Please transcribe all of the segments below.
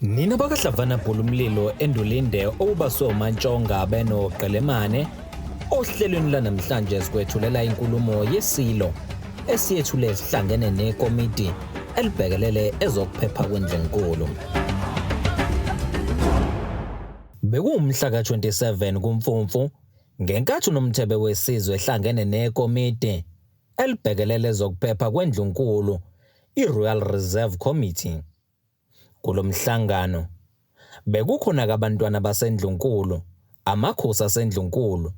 Nina bakadlavana bhulumlilo endulinde obubaswe umantshonga benoqelemane ohlelweni lanamhlanje sikwethulela inkulumo yesilo esiyethule sihlangene nekomidi elibhekelele ezokuphepha kwendlunkulu bekuwumhla ka-27 kumfumfu ngenkathi unomthebe wesizwe ehlangene nekomidi elibhekelele ezokuphepha kwendlunkulu i-royal reserve committee Kulo mhlangano bekukhona kabantwana basendlunkulu, amakhosi asendlunkulu,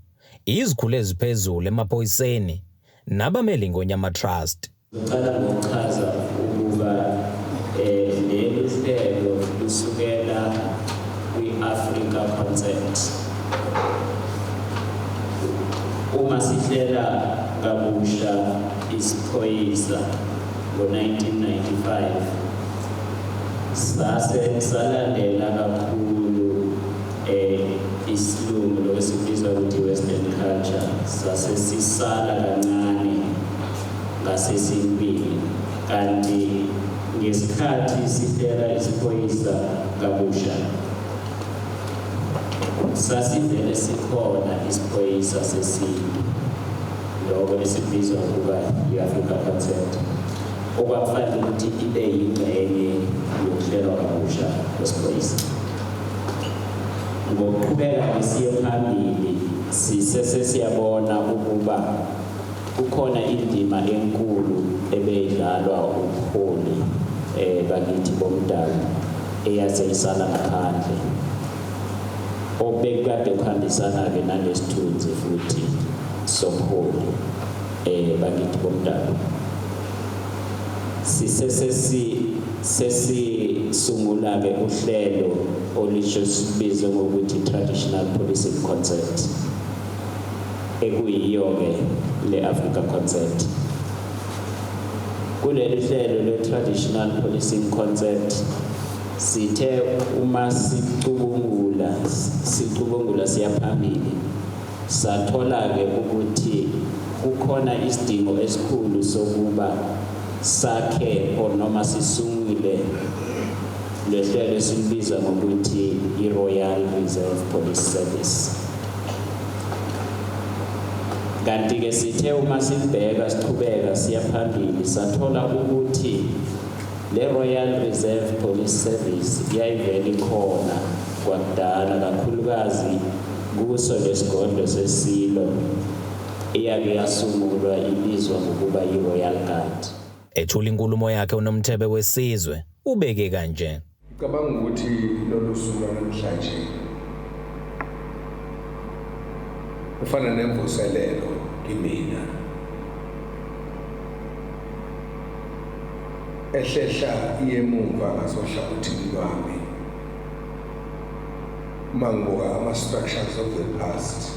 izikhulu eziphezulu emaphoyiseni nabameli iNgonyama Trust. Ngiqala ngokuchaza ukuba um leli hlelo lusukela kwi-Africa Concept. Uma sihlela kabusha isiphoyisa ngo-1995 sase salandela kakhulu eh isilungu lo esibizwa ukuthi western culture sase sisala kancane ngasesintwini kanti ngesikhathi sihlela isiphoyisa kabusha sasivele sikhona isiphoyisa sesintu noma esibiza ngokuba yi-Africa Concept, okwakufanele ukuthi ibe yingxenye yokuhlelwa kabusha kwesiphoyisa. Ngokuqhubeka-ke siye phambili, sisese siyabona ukuba kukhona indima enkulu ebeyidlalwa ubuholi bakithi boMdabu eyase isala ngaphandle. obekade kuhambisana-ke nanesithunzi futhi somholi eh bakithi bomdabu sisesesi sesisungula-ke uhlelo olisho sibizwe ngokuthi traditional policing concept ekuyiyo-ke le-africa concept kuleli hlelo le-traditional policing concept Sithe uma sicubungula sicubungula siyaphambili sathola-ke ukuthi kukhona isidingo esikhulu sokuba sakhe or noma sisungule lehlelo esilibiza ngokuthi i-royal reserve police service kanti-ke sithe uma sibheka siqhubeka siya phambili sathola ukuthi Le Royal Reserve Police Service yayivele ikhona kwakudala kakhulukazi kuso lesigodlo seSilo eyake yasungulwa ibizwa ngokuba yiRoyal Guard. Ethula inkulumo yakhe uNomthebe Wesizwe ubeke kanje. Cabanga ukuthi lolu suku lwanamhlanje ufana nemvuselelo kimina ehlehla iyemuva ngasohlangothini lwami uma ngibuka ama-structures of the past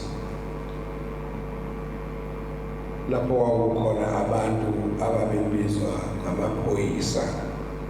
lapho kwakukhona abantu ababebizwa ngamaphoyisa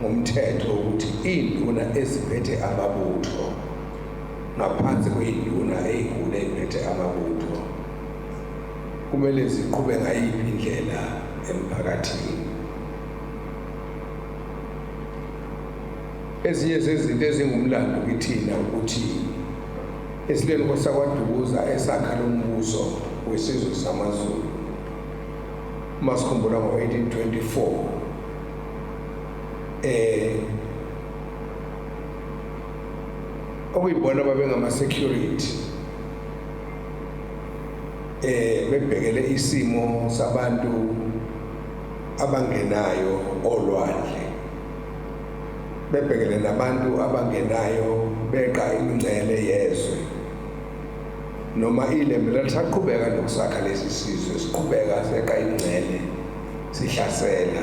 ngumthetho ukuthi iy'nduna eziphethe amabutho ngaphansi kwey'nduna ey'nkulu ey'phethe amabutho kumele ziqhube ngayiphi indlela emphakathini ezinye zezinto ezingumlando kithina ukuthi esileni kwesakwadukuza esakha lo mbuso wesizwe samazulu uma sikhumbula ngo-1824 eh okuyibona babengama security eh bebhekele isimo sabantu abangenayo olwandle bebhekele nabantu abangenayo beqa ingcele yezwe noma ilembe lathi saqhubeka nokusakha lesi sizwe siqhubeka seqa ingcele sihlasela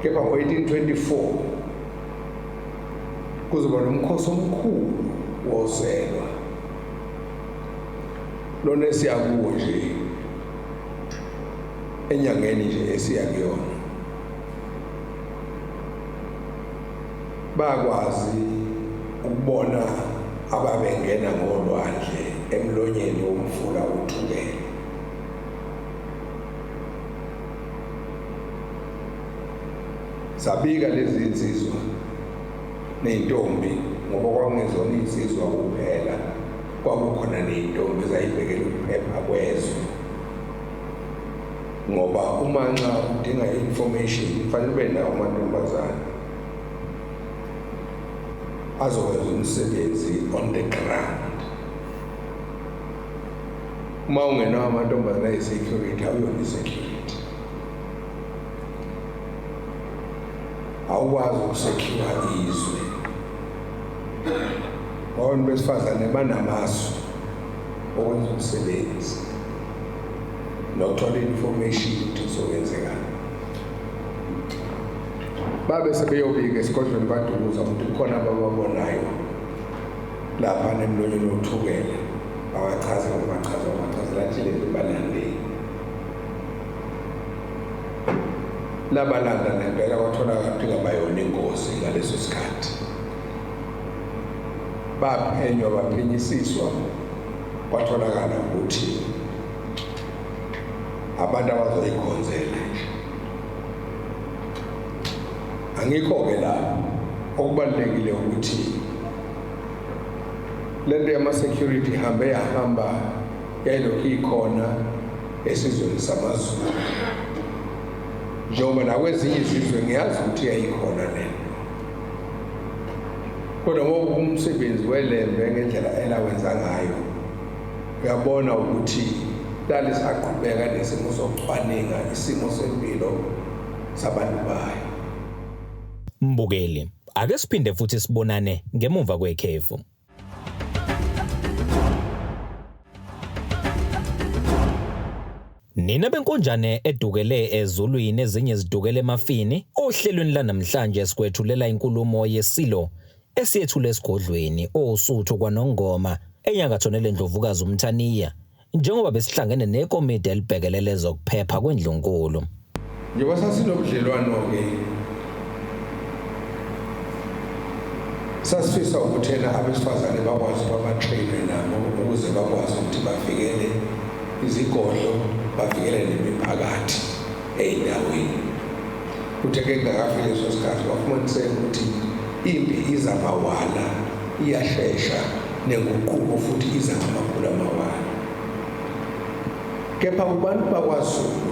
kepha ngo-1824 kuzoba nomkhosi omkhulu wozelwa lona esiyakuwo nje enyangeni nje esiya kuyona bakwazi ukubona ababengena ngolwandle emlonyeni womfula uthukela Zabika lezi insizwa ney'ntombi ngoba kwakungezona iy'nsizwa kuphela kwakukhona ney'ntombi ezayibhekela ukuphepha kwezwe ngoba uma nxa udinga i-information kufanele ube nawo amantombazane azokwenza umsebenzi on the ground uma ungenawo amantombazane ayisecurity awuyona isecurity awukwazi ukusekhiwa izwe abantu besifazane banamasu okwenza umsebenzi nokuthola information ukuthi uzokwenzekani babe sebeyobika esigodlweni badukuza ukuthi kukhona abababonayo Lapha nemlonyeni wothukela awachaze ngomachaza wamachazela athi le nto balandeni labalanda nempela kwatholakala ukuthi kabayona ingozi ngaleso sikhathi baphenywa baphenyisiswa kwatholakala ukuthi abantu abazoyikhonzela Angikho-ke lapho, okubalulekile ukuthi le nto yama-security ihambe yahamba yayilokhu ikhona esizweni samazulu njengoba nakwezinye izizwe ngiyazi ukuthi yayikhona lento kodwa ngoba umsebenzi welembe ngendlela elawenza ngayo uyabona ukuthi lalisaqhubeka nesimo sokucwaninga isimo sempilo sabantu bayo. Mbukeli, ake siphinde futhi sibonane ngemumva kwekhefu. Nina benkonjane edukele ezulwini ezinye izidukele emafini ohlelweni lanamhlanje sikwethulela inkulumo yesilo esiyethule esigodlweni oSuthu kwaNongoma enyakathonele Ndlovukazi uMthaniya njengoba besihlangene nekomidi elibhekelele ezokuphepha kwindlunkulu. Njengoba sasinobudlelwano-ke sasifisa ukuthena abesifazane bakwazi ukuba batrayinwe nabo ukuze bakwazi ukuthi bavikele izigodlo bavikele nemiphakathi. ey'ndaweni. Uthe ke kungakafi leso sikhathi wafumaniseka ukuthi impi iza mawala, iyashesha nenguquko futhi iza ngamakhulu amawala. Kepha kubantu bakwaZulu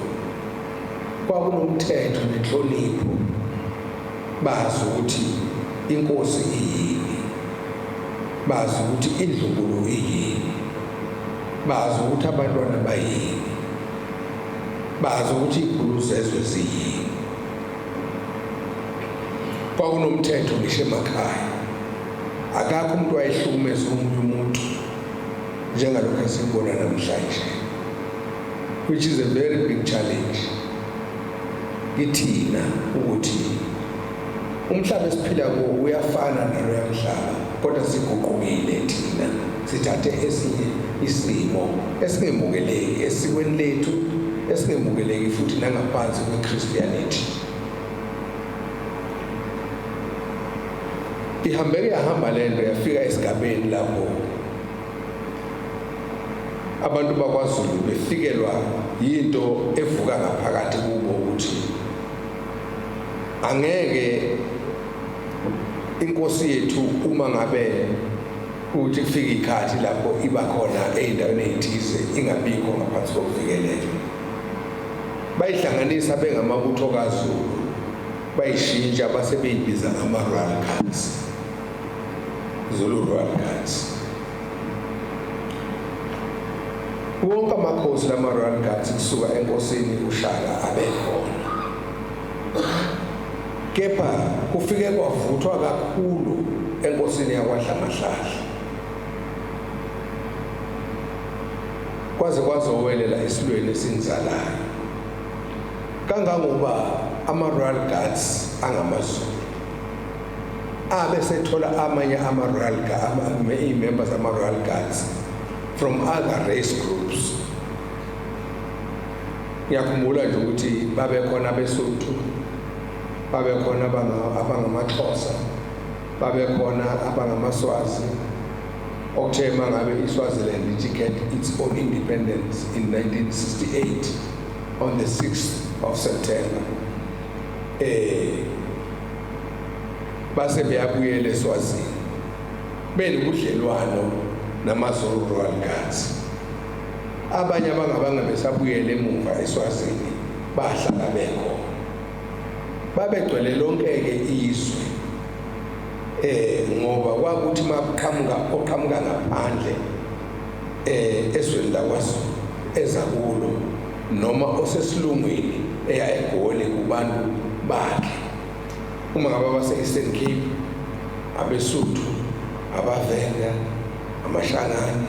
kwakunomthetho nenhlonipho bazi ukuthi inkosi iyini bazi ukuthi indlunkulu iyini bazi ukuthi abantwana bayini bazi ukuthi izikhulu zezwe ziyini kwakunomthetho ngisho emakhaya akakho umuntu wayehlukumeza omunye umuntu njengalokhu esikubona namhlanje which is a very big challenge kithina ukuthi umhlaba esiphila kuwo uyafana nalo yamhlaba kodwa siguqukile thina Sithathe esinye isimo esingemukeleki esikweni lethu, esingemukeleki futhi nangaphansi kweChristianity. Ihambeke yahamba le nto yafika esigabeni lapho abantu bakwaZulu befikelwa yinto evuka ngaphakathi kubo ukuthi angeke inkosi yethu uma ngabe Kuthi kufike ikhathi lapho iba khona ezindaweni ezithize ingabikho ngaphansi kokuvikeleka. Bayihlanganisa bengamabutho kaZulu. Bayishintsha base beyibiza ngama Royal Guards. Zulu Royal Guards. wonke amakhosi lama-royal guards kusuka enkosini ushaka abekhona Kepha kufike kwavuthwa kakhulu enkosini yakwaDlamahlahla. Kwaze kwazowelela isilweni esinzalayo. Kangangoba ama-Royal Guards angamaZulu abe sethola amanye ama-royal iy'memba zama-royal guards from other race groups ngiyakhumbula nje ukuthi babekhona abesuthu babekhona abangamaxhosa babekhona abangamaswazi okuthe uma ngabe iswaziland ithi get its own independence in 1968 on the 6th of september eh base beyabuyela eswazini benobudlelwano namazulu royal guards Abanye abangabanga besabuyela emuva eSwazini bahlala bekho. Babegcwele lonke-ke izwe eh ngoba kwakuthi makuqhamuka oqhamuka ngaphandle eh esweni lakwaZulu eza kulo noma osesilungwini eya egoli kubantu bakhe uma ngaba base-eastern cape abesuthu abavenda amashangane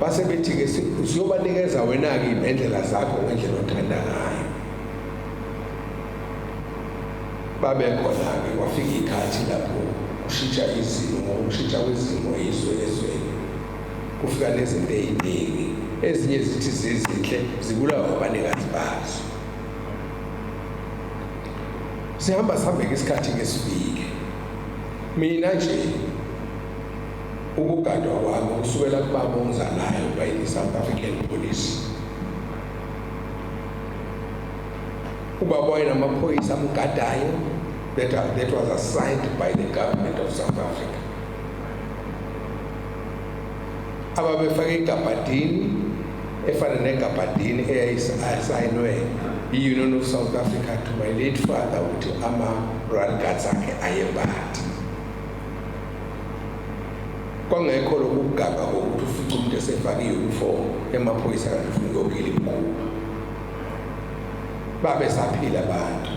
base bethi-ke siyobanikeza wena-ke iy'bhedlela zakho ngendlela othanda ngayo babe khona-ke kwafika ikhathi lapho kushintsha izimo ngokushintsha kwezimo izwe ezweni kufika nezinto ey'ningi ezinye zithi zizinhle zibulawa abanikazi bazo sihamba sihambeke isikhathi ngesifike mina nje Ukugadwa kwami kusukela kubaba ongizalayo by the South African Police. Ubaba wayenamaphoyisa amgadayo that, that was assigned by the government of South Africa. Ababefake igabhadini efana negabhadini eyayisayinwe i-Union of South Africa to my late father ukuthi ama-run guards akhe ayebadi kwangekho lokhu kuganga kokuthi ufice umuntu esefake iyunifomu emaphoyisa kanti ufuna ukuyophila imikhuba babesaphila abantu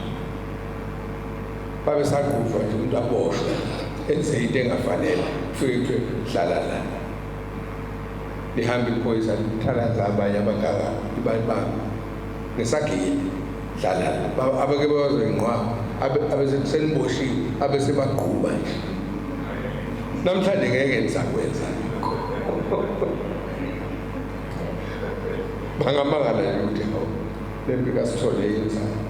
babesagquzwa nje umuntu aboshwe enze into engafanele kufike kuthiwe hlala la lihamba iphoyisa lithalaza abanye abaganga libalibanga ngesagile hlala abake bazwe ngqwa abeseniboshiwe abesebagquba nje namhlanje ngeke nisakwenza bangamangala nje ukuthi hawu lempi kasithole yenzani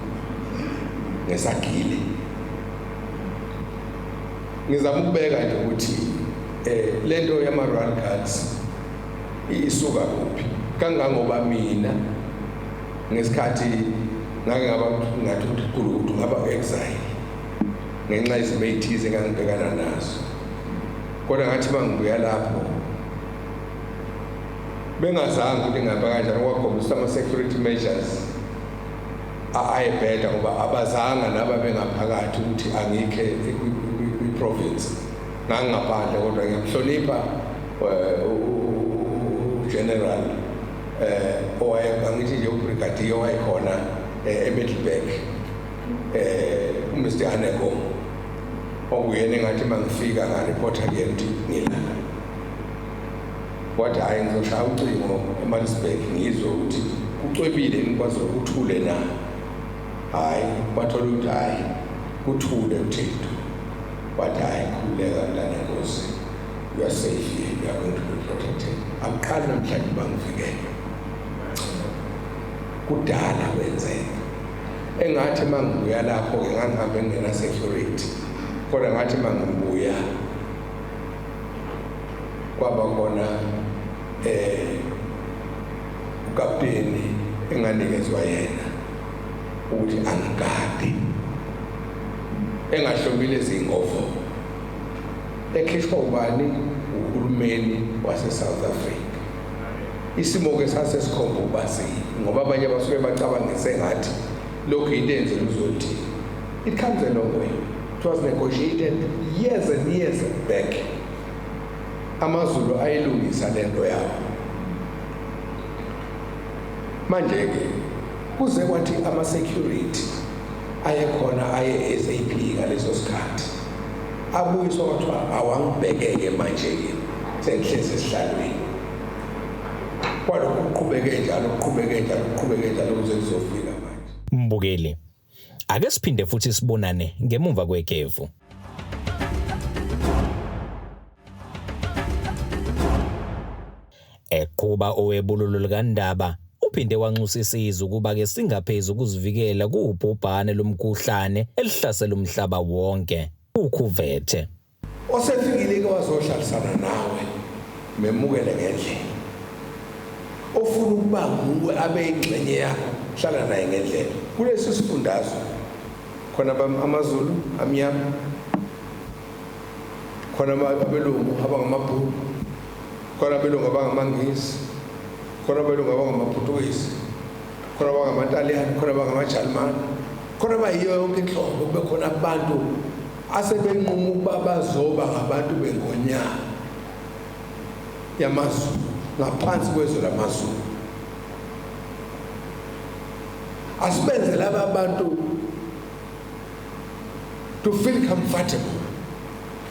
ngesagile ngizama ukubeka nje ukuthi eh lento yama run cards isuka kuphi kangangoba mina ngesikhathi ngake ngaba ngathi kukhulu ukuthi ngaba exile ngenxa yezimo eyithize engangibhekana nazo kodwa ngathi uma ngibuya lapho bengazange ukuthi ngihamba kanjani kwakhombisa ama-security measures ayebheda ngoba abazanga naba bengaphakathi ukuthi angikhe kwi-province ngangingaphandle kodwa ngiyamhlonipha eh, ugeneral eh owaye angithi nje ubrigadier owayekhona eh, eMiddleburg eh uMr Haneko okuyena engathi mangifika nga report again ukuthi ngilana wathi hayi ngizoshaya ucingo eMalisburg ngizwe ukuthi kucwebile ngikwazi ukuthule na hayi bathola ukuthi hayi kuthule uThixo wathi hayi khuleka mntana nkosi You are safe here. You are going to be protected. Akuqali namhlanje bangivikele. Kudala kwenzeka. Engathi mangibuya lapho ke ngangihambe ngena security. Kodwa ngathi mangibuya kwaba khona eh ukapteni enganikezwa yena ukuthi angigadi engahlomile izingovo Ekhishwa ubani? Uhulumeni waseSouth Africa. Isimo-ke sasesikhomba ukuba siyi ngoba abanye basuke bacabanga sengathi lokhu yinto enzela uzothini. It comes a long way. It was negotiated years and years back. AmaZulu ayilungisa le nto yawo. Manje-ke kuze kwathi ama-security ayekhona aye-SAP ngaleso sikhathi. abuyiswa kwathiwa awangibhekeke manje-ke sengihlezi esihlalweni kwalokhu kuqhubeke njalo kuqhubeke njalo kuqhubeke njalo kuze kuzofika manje mbukeli ake siphinde futhi sibonane ngemumva kwekevu Eqhuba owebululu likandaba uphinde wanxusa isizwe ukuba ke singaphezi ukuzivikela kuwubhubhane lomkhuhlane elihlasela umhlaba wonke ukhuvethe osefikile ke wazohlalisana nawe memukele ngendlela ofuna ukuba nguwe abe ingxenye yakho hlala naye ngendlela kulesi sifundazwe khona amazulu amnyama khona abelungu abangamabhulu khona abelungu abangamaNgisi khona abelungu abangamaPutukezi khona abangamaTaliyane khona abangamaJalimane khona bayiyo yonke inhlobo kube khona abantu asebenquma ukuba bazoba ngabantu bengonyana yamazulu ngaphansi kwezwe lamazulu asibenze laba bantu to feel comfortable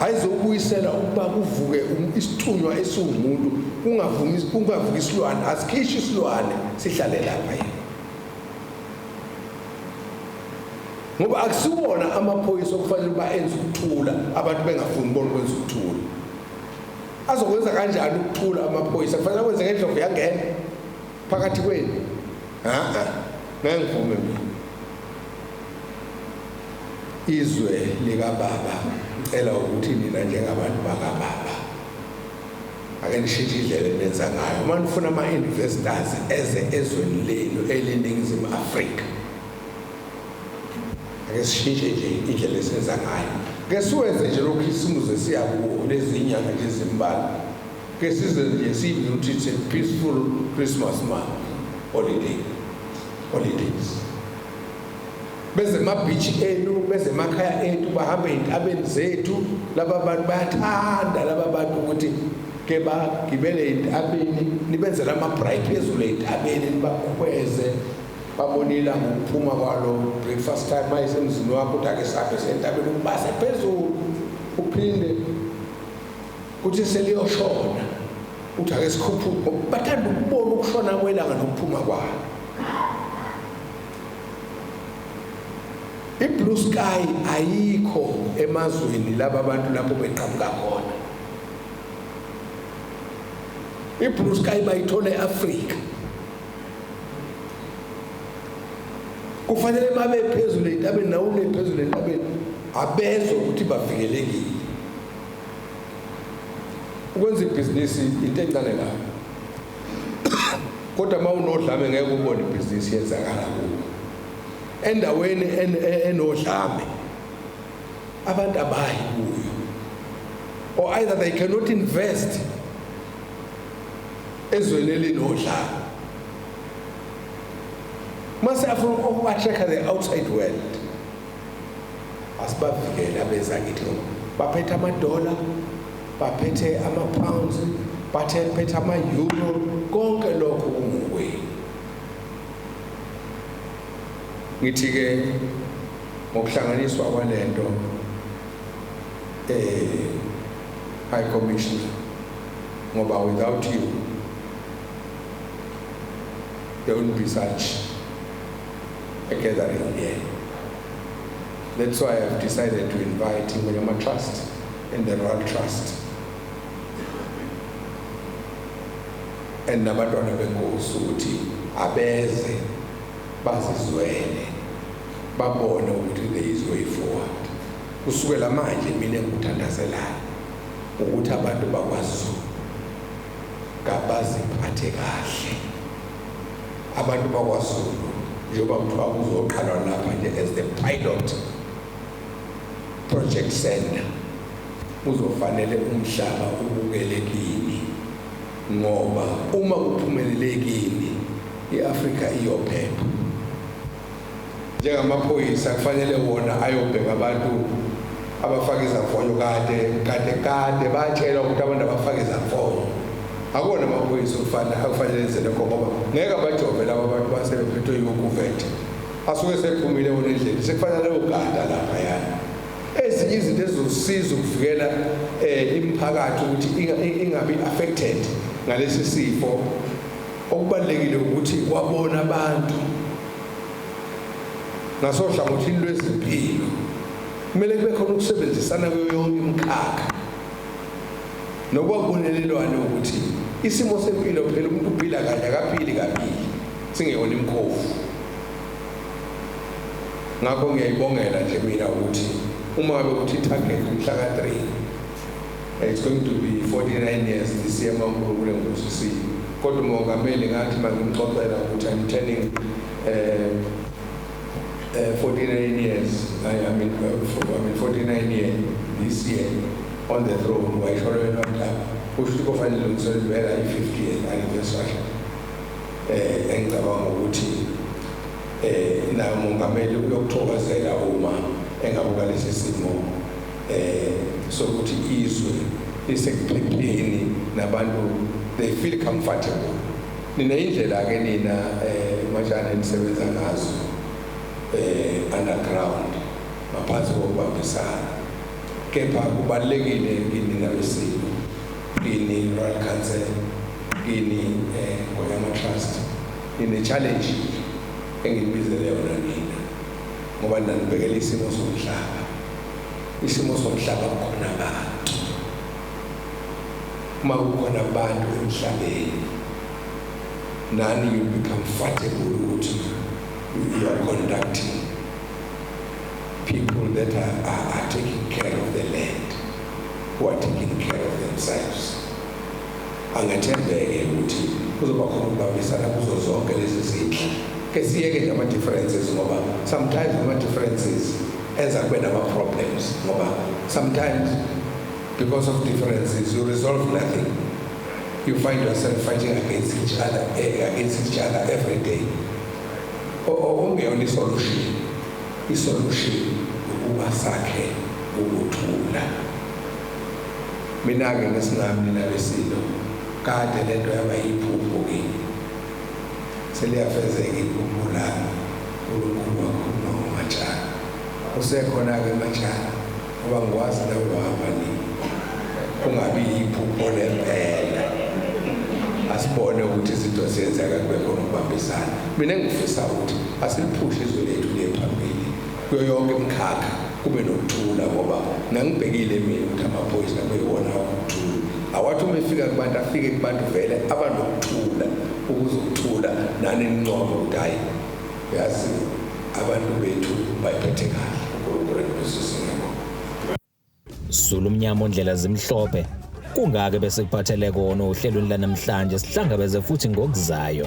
ayizokubuyisela ukuba kuvuke um-, isithunywa esiwumuntu kungavuki kungavuki isilwane asikhishi isilwane sihlale lapha yini ngoba akusiwona amaphoyisa okufanele uba enze ukuthula abantu bengafuni bona ukwenza ukuthula azokwenza kanjani ukuthula amaphoyisa kufanele akwenze ngendlovu yangena phakathi kwenu ha-a ngeke ngivume mina izwe likababa ngicela ukuthi nina njengabantu bakababa ake nishintshe indlela enenza ngayo uma nifuna ama-investors eze ezweni lenu eliningizimu afrika ake sishintshe nje indlela esenza ngayo ke siwenze nje lokhu isimuzo esiyakuwo nezinyanga nje ezimbalwa ke size nje siyibiza ukuthi it's a peaceful christmas month holiday holidays bezemabhichi enu bezemakhaya ethu bahambe intabeni zethu laba bantu bayathanda laba bantu ukuthi ke bagibele intabeni nibenzela ama-bright phezulu entabeni nibakhweze babone ilanga ukuphuma kwalo breakfast time mayisemzini wakho ukuthi ake sabe sentabeni ukubase phezulu uphinde kuthi seliyoshona uthi ake sikhuphuke bathanda ukubona ukushona kwelanga nokuphuma kwalo iblue sky ayikho emazweni laba bantu lapho beqhamuka khona iblue sky bayithola eAfrika kufanele babe phezulu entabeni nawo le phezulu entabeni abezwe ukuthi bavikelekile ukwenza ibhizinisi into encane kabi kodwa uma unodlame ngeke ubone ibhizinisi yenzakala kuwo endaweni enodlame abantu abayi kuyo or either they cannot invest ezweni elinodlame mase afuna uku-attract the outside world asibavikele abezakithi lo baphethe amadola baphethe ama-pounds bathe phethe ama-euro konke lokho kungokwenu ngithi-ke ngokuhlanganiswa kwale nto um eh, high commissioner ngoba without you there wouldn't be such a gathering here. That's why I've decided to invite Ingonyama Trust and the Royal Trust. And nabantwana benkosi ukuthi abeze bazizwele babone ukuthi there is way forward. Kusukela manje mina ngikuthandazelayo ukuthi abantu bakwaZulu kabaziphathe kahle. abantu bakwazulu njengoba kuthiwa kuzoqalwa lapha nje as the pilot project center uzofanele umhlaba ubukele kini ngoba uma kuphumelele kini i-afrika iyophepha Njengamaphoyisa kufanele wona ayobheka abantu abafaka izamfonyo kade kade kade batshelwa ukuthi abantu abafaka izamfonyo akuwona amaphoyisa okufanele akufanele enze lokho ngoba ngeke abajove laba abantu basebephethwe yokuvethe asuke sephumile wona endlini sekufanele ugada lapha yana ezinye izinto ezosiza ukuvikela eh imiphakathi ukuthi ingabi affected ngalesi sifo okubalekile ukuthi kwabona abantu nasohlangothini lwezempilo kumele kube khona ukusebenzisana kuyo yonke imikhakha nokuba kubonelelwane ukuthi isimo sempilo phela umuntu uphila kanye akaphili kabili singeyona imkhofu ngakho ngiyayibongela nje mina ukuthi uma ngabe ukuthi i-target umhla ka-three It's going to be 49 years this year maNkulunkulu engibusisile. Kodwa umongameli ngathi mangimxoxela ukuthi I'm turning eh uh, 49 years. I am in, uh, I'm in 49 years this year on the throne. Why should I not have? Kusho ukuthi kufanele ngizolibeka where I 50 years anniversary. Eh engicabanga ukuthi eh nayo umongameli uyokuthokozela uma engabuka lesi simo. um sokuthi izwe lisekuphepheleni nabantu they feel comfortable nina indlela-ke nina um matshane nisebenza ngazo um underground ngaphansi kokubambisana kepha kubalulekile kini nabesiko kini royal council kini um goyama trust nine-challenge engilibizele yona nina ngoba nanibhekela isimo somhlaba Isimo somhlaba kukhona abantu. Uma kukhona abantu emhlabeni nani you become comfortable ukuthi you are conducting people that are, are, are taking care of the land who are taking care of themselves angathembeke ukuthi kuzoba khona ukubambisana kuzo zonke lezi zinhla ke siyeke nje ama-differences ngoba sometimes ama-differences enza kube nama problems ngoba sometimes because of differences you resolve nothing you find yourself fighting against each other eh, against each other every day ongeyona isolution isolution ukuba sakhe ukuthula mina-ke ngesingami nina besilo kade lento yaba yiphupho kini seliyafezeka iphupho lami uNkulunkulu wakhuluma ngomatshana usekhona-ke matshana ngoba ngikwazi nawe wahamba nini kungabi yiphupho lempela asibone ukuthi izinto ziyenzeka kube khona ukubambisana mina engifisa ukuthi asiliphushe izwe lethu liye phambili kuyo yonke imikhakha kube nokuthula ngoba ngangibhekile mina ukuthi amaphoyisa nabeyiwona okuthula awathi uma efika kubantu afike kubantu vele abanokuthula ukuze ukuthula nani nincome ukuthi hhayi uyazi abantu bethu bayiphethe kahle unkulunkulu enibusisingekho Zulu mnyama ondlela zimhlophe kungake bese kuphathele kona ohlelweni lanamhlanje sihlangabeze futhi ngokuzayo